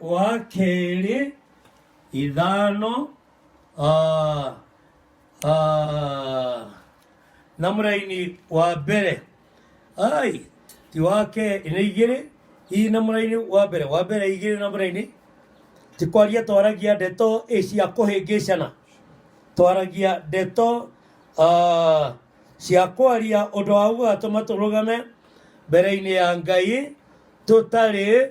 wa kerĩ ithano ah, ah, na mũraini wa mbere ai ti wa kerĩ nĩ igĩrĩ hihi na mũraini wa mbere wa mbere igĩrĩ na mũraini ti kwaria twaragia ndeto ĩ cia kũhĩngĩcana twaragia ndeto ah, cia kwaria ũndũ wa gũgatũma tũrũgame mbere-inĩ ya ngai tũtarĩ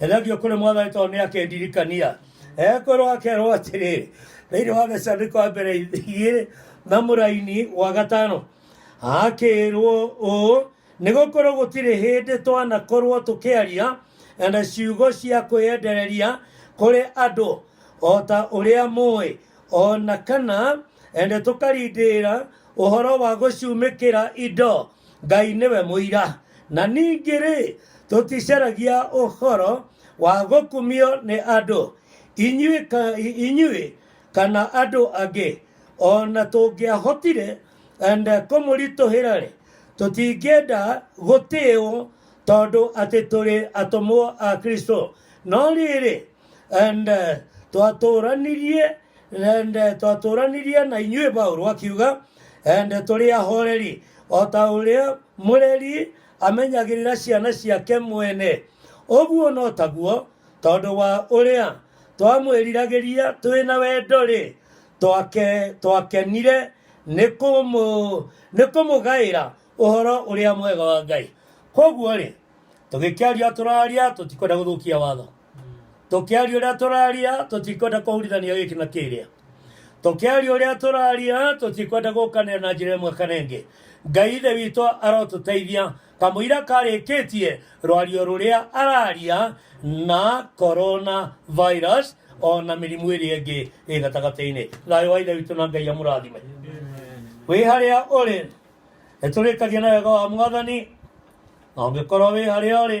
Thengio kũrĩ mwathani tondũ nĩ akendirikania ekwĩrwo akerwo atĩrĩ thĩinĩ wa gĩcandĩko wa mbere igĩrĩ na mũraini wa gatano akĩrwo ũũ nĩ gũkorwo gũtirĩ hĩndĩ twanakorwo tũkĩaria na ciugo cia kwĩyendereria kũrĩ andũ o ta ũrĩa mũĩ o na kana ende tũkarindĩra ũhoro wa gũcumĩkĩra indo Ngai nĩwe mũira, na ningĩ-rĩ, tũticaragia ũhoro wa gũkumio nĩ andũ, inyuĩ, ka, inyuĩ kana andũ angĩ. O na tũngĩahotire enda kũmũritũhĩra-rĩ, tũtingĩenda gũtĩĩo tondũ atĩ tũrĩ atũmwo a Kristo. No rĩrĩ, ende twatũranirie ende twatũranirie na inyuĩ paulo akiuga ende tũrĩ ahoreri o ta ũrĩa mũreri amenyagĩrĩra ciana ciake mwene ũguo no taguo tondũ wa ũrĩa twamwĩriragĩria twĩ na wendo-rĩ twake twakenire nĩ kũmũ- nĩ kũmũgaĩra ũhoro ũrĩa mwega wa ngai koguo-rĩ tũgĩkĩaria tũraria tũtikwenda gũthũkia watho tũkĩaria ũrĩa tũraria tũtikwenda kũhurithania gĩkĩ na kĩrĩa tũkĩaria ũrĩa tũraria tũtikwenda gũkanĩra na njĩra ĩmwe kana ĩngĩ ngai ithe witũ arotũteithia kamũira karĩkĩtie rwario rũrĩa araria na corona virus ona mĩrimũ ĩrĩa ĩngĩ ĩ gatagatĩ-inĩ thayũ wa ithe witũ na ngai amũrathime wĩ harĩa ũrĩ nĩtũrĩkagia na wega wa mwathani na ũngĩkorwo wĩ harĩa ũrĩ